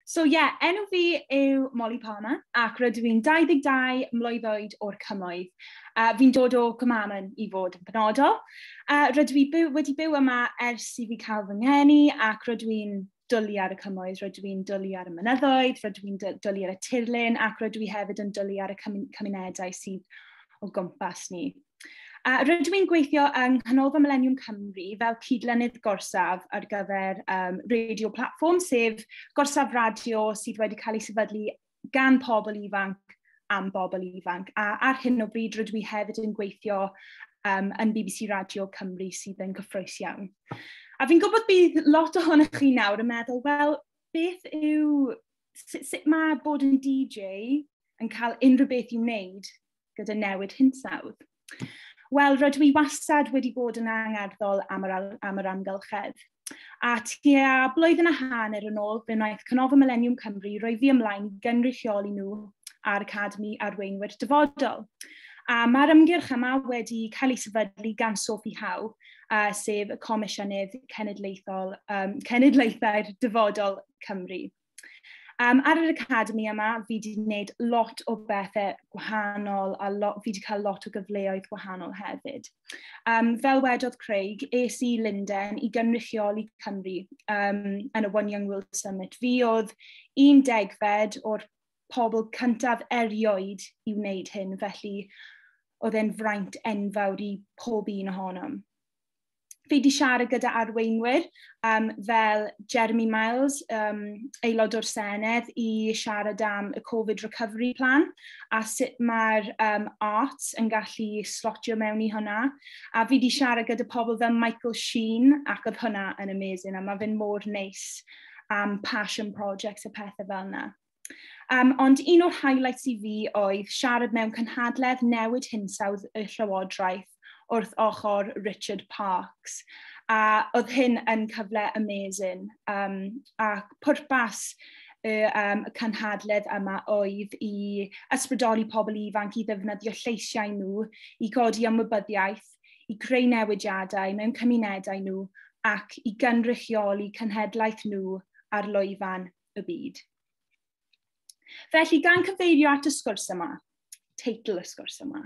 So ie, yeah, enw fi yw Molly Palmer ac rydw i'n 22 mlwydd oed o'r cymoedd. Uh, fi'n dod o Cymamen i fod yn penodol. Uh, rydw i byw, wedi byw yma ers i fi cael fy ngeni ac rydw i'n dwlu ar y cymoedd, rydw i'n dwlu ar y mynyddoedd, rydw i'n dwlu ar y tirlun ac rydw i hefyd yn dwlu ar y cymunedau sydd o gwmpas ni. A rydw i'n gweithio yng Nghanolfan Millennium Cymru fel cydlynydd gorsaf ar gyfer um, radio platform, sef gorsaf radio sydd wedi cael ei sefydlu gan pobl ifanc am bobl ifanc. A ar hyn o bryd rydw i hefyd yn gweithio um, yn BBC Radio Cymru sydd yn gyffroes iawn. A fi'n gwybod bydd lot ohonych chi nawr yn meddwl, wel, beth yw, sut, sut mae bod yn DJ yn cael unrhyw beth i'w wneud gyda newid hinsawdd. Wel, rydw i wastad wedi bod yn angerddol am yr, am yr amgylchedd. A tua blwyddyn a hanner yn ôl, fe wnaeth Cynofo Millennium Cymru roi fi ymlaen gynrychioli nhw a'r Academi Arweinwyr Dyfodol. A mae'r ymgyrch yma wedi cael ei sefydlu gan Sophie Howe, uh, sef y Comisiynydd Cenedlaethol, um, Cenedlaethau'r Dyfodol Cymru. Um, ar yr academi yma, fi wedi gwneud lot o bethau gwahanol a lot, fi wedi cael lot o gyfleoedd gwahanol hefyd. Um, fel wedodd Craig, es i Linden i gynrychioli Cymru um, yn y One Young World Summit. Fi oedd un degfed o'r pobl cyntaf erioed i wneud hyn, felly oedd e'n fraint enfawr i pob un ohonom. Fi wedi siarad gyda arweinwyr um, fel Jeremy Miles, um, aelod o'r Senedd, i siarad am y Covid Recovery Plan a sut mae'r um, arts yn gallu slotio mewn i hwnna. A fi wedi siarad gyda pobl fel Michael Sheen ac oedd hwnna yn amazing a mae fe'n mor neis am passion projects a pethau fel yna. Um, ond un o'r highlights i fi oedd siarad mewn cynhadledd newid hinsawdd y Llywodraeth wrth ochr Richard Parks. A oedd hyn yn cyfle amazing. Um, a pwrpas y um, cynhadledd yma oedd i ysbrydoli pobl ifanc i ddefnyddio lleisiau nhw, i godi ymwybyddiaeth, i creu newidiadau mewn cymunedau nhw ac i gynrychioli cynhedlaeth nhw ar lwyfan y byd. Felly, gan cyfeirio at y sgwrs yma, teitl y sgwrs yma,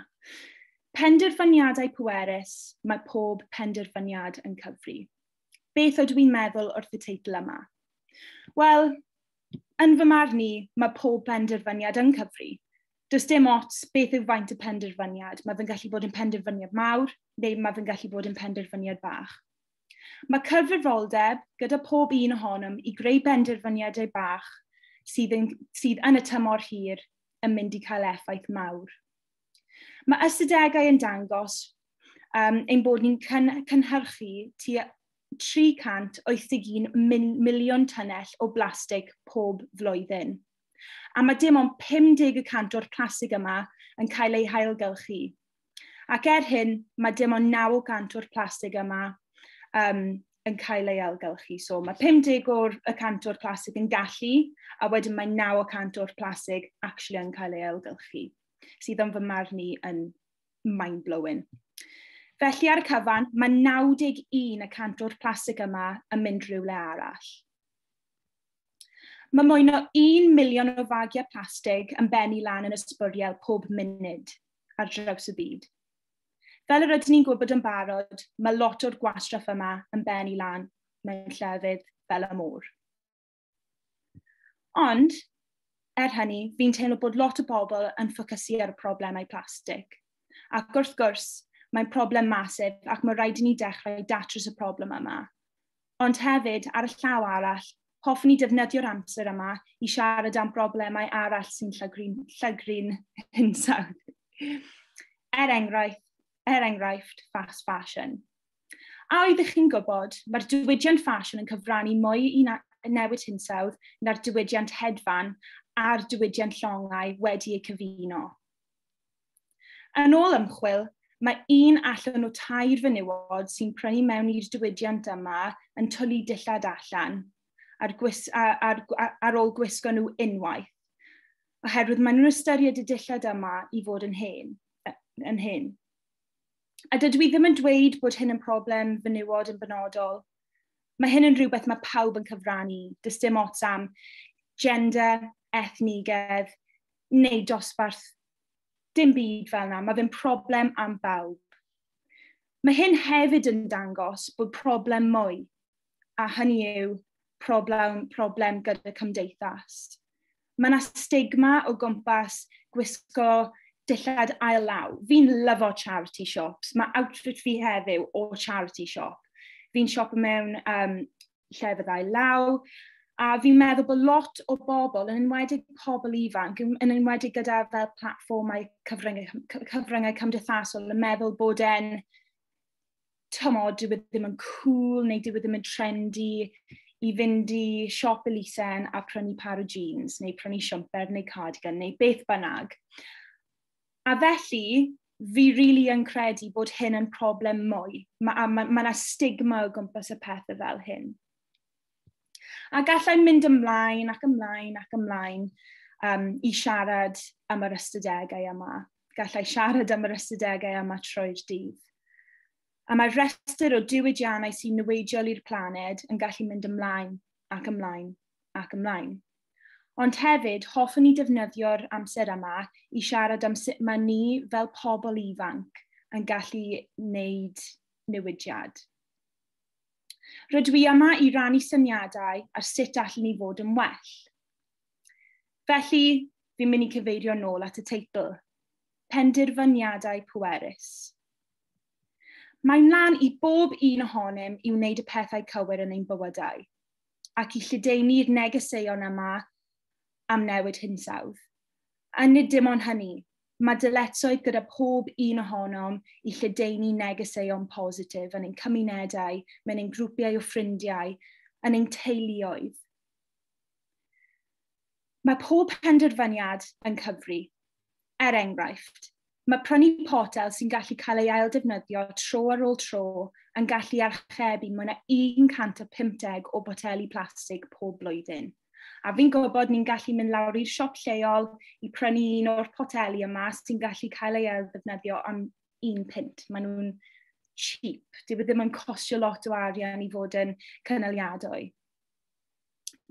penderfyniadau pwerus, mae pob penderfyniad yn cyfri. Beth ydw i'n meddwl wrth y teitl yma? Wel, yn fy marn i, mae pob penderfyniad yn cyfri. Does dim ots beth yw faint y penderfyniad. Mae fe'n gallu bod yn penderfyniad mawr, neu mae fe'n gallu bod yn penderfyniad bach. Mae cyfrifoldeb gyda pob un ohonom i greu benderfyniadau bach sydd yn, sydd yn y tymor hir yn mynd i cael effaith mawr. Mae ystadegau yn dangos um, ein bod ni'n cyn, cynhyrchu tua 381 miliwn tunnell o blastig pob flwyddyn. A mae dim ond 50 y cant o'r plastig yma yn cael ei hailgylchu. Ac er hyn, mae dim ond 900 o'r plastig yma um, yn cael ei ailgylchu. So mae 50 o'r y cant o'r plastig yn gallu, a wedyn mae 900 o'r plastig actually yn cael ei ailgylchu, sydd yn fy marn i yn mind-blowing. Felly ar y cyfan, mae 91 y cant o'r plastig yma yn mynd rhywle arall. Mae mwy o 1 miliwn o fagiau plastig yn bennu lan yn ysbwriel pob munud. ar draws y byd. Fel yr ydyn ni'n gwybod yn barod, mae lot o'r gwastraff yma yn ben i lan mewn llefydd fel y môr. Ond, er hynny, fi'n teimlo bod lot o bobl yn ffocysu ar y problemau plastig. Ac wrth gwrs, mae'n problem masif ac mae rhaid i ni dechrau datrys y problem yma. Ond hefyd, ar y llaw arall, hoffwn i defnyddio'r amser yma i siarad am broblemau arall sy'n llygru'n llygru'n hinsawdd. Er enghraifft, er enghraifft, fast fashion. A oeddech chi'n gwybod, mae'r diwydiant ffasiwn yn cyfrannu mwy i newid hinsawdd na'r diwydiant hedfan a'r diwydiant llongau wedi eu cyfuno. Yn ôl ymchwil, mae un allan o tair fenywod sy'n prynu mewn i'r diwydiant yma yn twlu dillad allan ar, gwis, ar, ar, ar ôl gwisgo nhw unwaith, oherwydd maen nhw'n ystyried y dillad yma i fod yn hen. Yn hen. A dydw i ddim yn dweud bod hyn yn problem fenywod yn benodol. Mae hyn yn rhywbeth mae pawb yn cyfrannu, dys dim ots am gender, ethnigedd neu dosbarth Dim byd fel yna, mae fe'n problem am bawb. Mae hyn hefyd yn dangos bod problem mwy, a hynny yw problem, problem gyda cymdeithas. Mae yna stigma o gwmpas gwisgo dillad ail law. Fi'n lyfo charity shops. Mae outfit fi heddiw o charity shop. Fi'n siop mewn um, lle fyddai law, a fi'n meddwl bod lot o bobl, yn enwedig pobl ifanc, yn enwedig gyda fel platfformau cyfryngau, cyfryngau cymdeithasol, yn meddwl bod e'n tymod, dyw e ddim yn cool neu dyw e ddim yn trendy i fynd i siop Elisen a prynu par o jeans neu prynu siwmper neu cardigan neu beth bynnag. A felly, fi really yn credu bod hyn yn problem mwy, mae yna ma, ma stigma o gwmpas y pethau fel hyn. A gallai'n mynd ymlaen ac ymlaen ac ymlaen um, i siarad am yr ystadegau yma. Gallai siarad am yr ystadegau yma trwy'r dydd. A mae rhestr o diwydiannau sy'n niweidiol i'r planed yn gallu mynd ymlaen ac ymlaen ac ymlaen. Ond hefyd, hoffwn i defnyddio'r amser yma i siarad am sut mae ni fel pobl ifanc yn gallu wneud newidiad. Rydw i yma i rannu syniadau ar sut allan ni fod yn well. Felly, fi'n mynd i cyfeirio nôl at y teitl, penderfyniadau pwerus. Mae'n lan i bob un ohonym i wneud y pethau cywir yn ein bywydau. ac i lledaenu'r negeseuon yma am newid hinsawdd. A nid dim ond hynny, mae dyletoedd gyda pob un ohonom i lledaenu negeseuon positif yn ein cymunedau, mewn ein grwpiau o ffrindiau, yn ein teuluoedd. Mae pob penderfyniad yn cyfri. Er enghraifft, mae prynu potel sy'n gallu cael ei ailddefnyddio tro ar ôl tro yn gallu archebu mwy na 150 o boteli plastig pob blwyddyn. A fi'n gwybod ni'n gallu mynd lawr i'r siop lleol i prynu un o'r poteli yma sy'n gallu cael ei ailddefnyddio am un pint. Maen nhw'n cheap. Dyw e ddim yn costio lot o arian i fod yn cynaliadwy.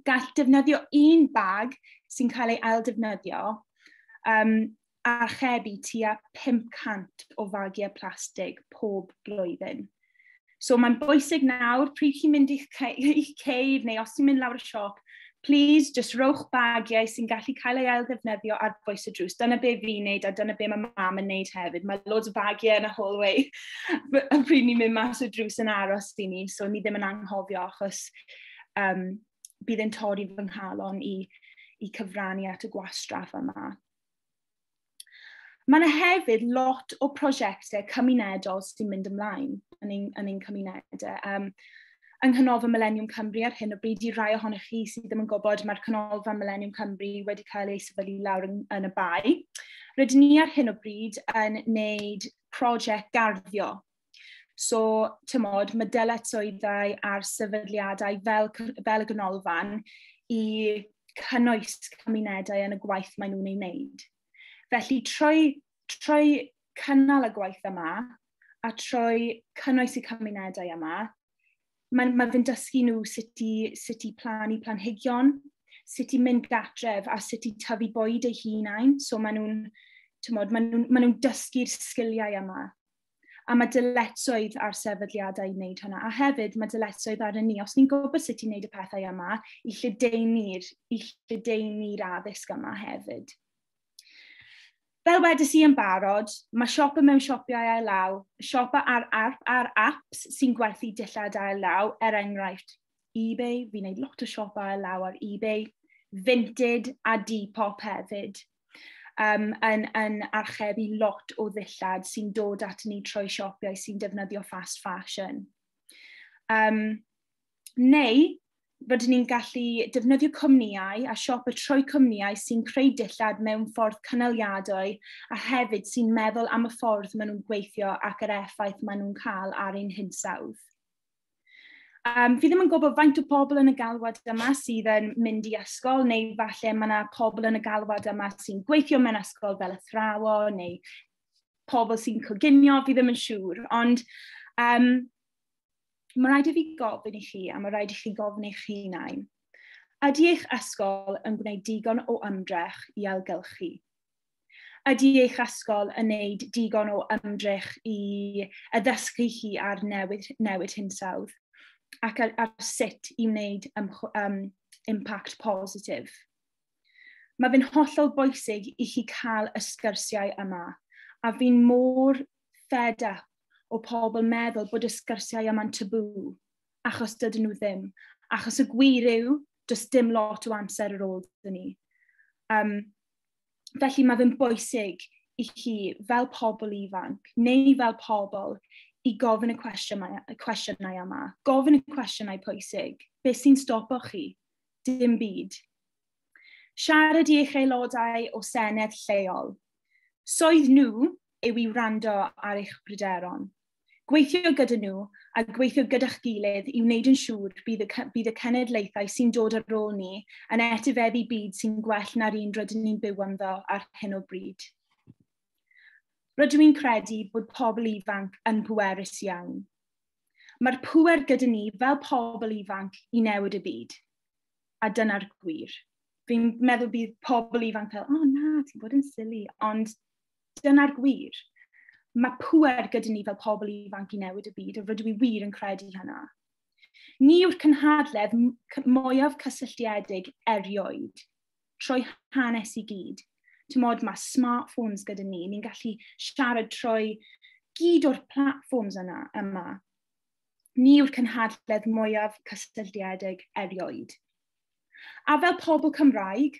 gall defnyddio un bag sy'n cael ei ail defnyddio um, archebu tua 500 o fagiau plastig pob blwyddyn. So mae'n bwysig nawr, pryd chi'n mynd i'ch ceid neu os ti'n mynd lawr y siop, please just rowch bagiau sy'n gallu cael ei ail ddefnyddio ar bwys y drws. Dyna be fi'n neud a dyna be mae mam yn neud hefyd. Mae loads o bagiau yn y hallway pryd ni'n mynd mas o drws yn aros i ni, so ni ddim yn anghofio achos um, bydd yn torri fy nghalon i, i cyfrannu at y gwastraff yma. Mae yna hefyd lot o prosiectau cymunedol sy'n mynd ymlaen yn ein, yn ein cymunedau. Um, yng Nghanolfa Millennium Cymru ar hyn o bryd i rai ohonych chi sydd ddim yn gwybod, mae'r Canolfa Millennium Cymru wedi cael ei sefydlu lawr yn, yn y bai. Rydyn ni ar hyn o bryd yn wneud prosiect garddio So, tymod, mae dyletswyddau a'r sefydliadau fel, fel y ganolfan i cynnwys cymunedau yn y gwaith maen nhw'n ei wneud. Felly, trwy, trwy cynnal y gwaith yma a trwy cynnwys y cymunedau yma, mae, mae fe'n dysgu nhw sut i, sut i plannu planhigion, sut i mynd gatref a sut i tyfu bwyd eu hunain. So maen nhw'n, maen nhw'n nhw dysgu'r sgiliau yma A mae dyletswydd ar sefydliadau i wneud hwnna. A hefyd, mae dyletswydd ar y ni. Os ni'n gwybod sut i wneud y pethau yma, i lledeini'r lledeini addysg yma hefyd. Fel wedys i yn barod, mae siopa mewn siopiau ail law, siopa ar, ar, ar apps sy'n gwerthu dillad ail law, er enghraifft eBay, fi'n gwneud lot o siopa ail law ar eBay, Vinted a Depop hefyd. um, yn, yn archebu lot o ddillad sy'n dod at ni trwy siopiau sy'n defnyddio fast fashion. Um, neu, bod ni'n gallu defnyddio cwmnïau a siop y trwy cwmnïau sy'n creu dillad mewn ffordd cynaliadwy a hefyd sy'n meddwl am y ffordd maen nhw'n gweithio ac yr effaith maen nhw'n cael ar ein hinsawdd. Um, fi ddim yn gwybod faint o pobl yn y galwad yma sydd yn mynd i ysgol, neu falle mae yna pobl yn y galwad yma sy'n gweithio mewn ysgol fel athrawo, neu pobl sy'n coginio, fi ddim yn siŵr. Ond um, mae rhaid i fi gofyn i chi, a mae rhaid i chi gofyn eich hunain, ydy eich ysgol yn gwneud digon o ymdrech i ailgylchu? Ydy eich ysgol yn wneud digon o ymdrech i addysgu chi ar newid, newid hinsawdd ac ar, ar sut i wneud um, impact positif? Mae fe'n hollol bwysig i chi cael y sgyrsiau yma, a fi'n mor fed up o pobl meddwl bod y sgyrsiau yma'n tabw, achos dydyn nhw ddim. Achos y gwir yw, does dim lot o amser ar ôl dyn ni. Um, Felly mae fe'n bwysig i chi fel pobl ifanc neu fel pobl i gofyn y cwestiynau, y cwestiynau yma. Gofyn y cwestiynau pwysig. Be sy'n stopo chi? Dim byd. Siarad i eich aelodau o Senedd lleol. Soedd nhw yw i wrando ar eich pryderon. Gweithio gyda nhw a gweithio gyda'ch gilydd i wneud yn siŵr bydd y, bydd y cenedlaethau sy'n dod ar ôl ni yn etifeddu byd sy'n gwell na'r un rydyn ni'n byw ynddo ar hyn o bryd. Rydw i'n credu bod pobl ifanc yn pwerus iawn. Mae'r pwer gyda ni fel pobl ifanc i newid y byd. A dyna'r gwir. Fi'n meddwl bydd pobl ifanc fel, o oh, na, ti'n bod yn sili, ond Dyna'r gwir. Mae pwer gyda ni fel pobl ifanc i newid y byd, a rydw i wir yn credu hynna. Ni yw'r cynhadledd mwyaf cysylltiedig erioed. Trwy hanes i gyd. Tymod, mae smartphones gyda ni, ni'n gallu siarad trwy gyd o'r platforms yna, yma. Ni yw'r cynhadledd mwyaf cysylltiedig erioed. A fel pobl Cymraeg,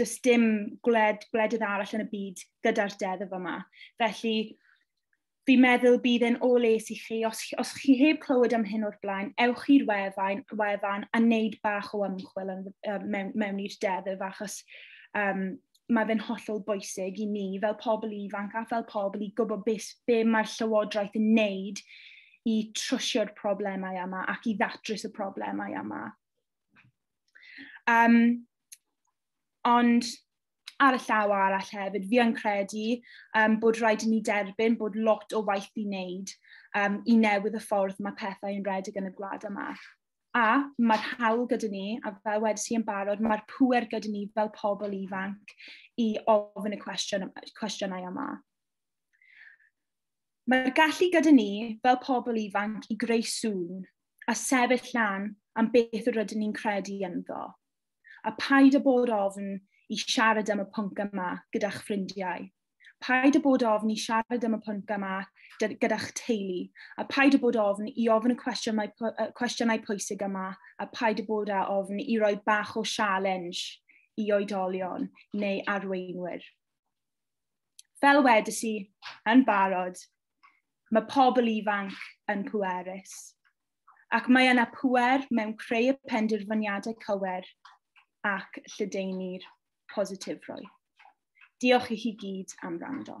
does dim gwled, gwledydd arall yn y byd gyda'r deddf yma. Felly, fi'n meddwl bydd e'n o les i chi, os, os chi heb clywed am hyn o'r blaen, ewch i'r wefan, wefan a wneud bach o ymchwil yn, um, mewn, mewn i'r deddf, achos um, mae fe'n hollol bwysig i ni fel pobl ifanc a fel pobl i gwybod beth be mae'r llywodraeth yn wneud i trwsio'r problemau yma ac i ddatrys y problemau yma. Um, ond ar y llaw arall hefyd, fi yn credu um, bod rhaid i ni derbyn bod lot o waith i wneud um, i newydd y ffordd mae pethau yn redig yn y gwlad yma. A mae'r hawl gyda ni, a fel wedi si yn barod, mae'r pwer gyda ni fel pobl ifanc i ofyn y cwestiwn, cwestiynau yma. Mae'r gallu gyda ni fel pobl ifanc i greu sŵn a sefyll lan am beth yr ydyn ni'n credu ynddo. A paid â bod ofn i siarad am y pwnc yma gyda'ch ffrindiau. Paid â bod ofn i siarad am y pwnc yma gyda'ch teulu, a paid â bod ofn i ofyn y cwestiynau, cwestiynau pwysig yma, a paid â bod â ofn i roi bach o sialens i oedolion neu arweinwyr. Fel wedys i yn barod, mae pobl ifanc yn pwerus. Ac mae yna pwer mewn creu y penderfyniadau cywir ac lledaenu'r positifrwydd. Diolch i chi gyd am rando.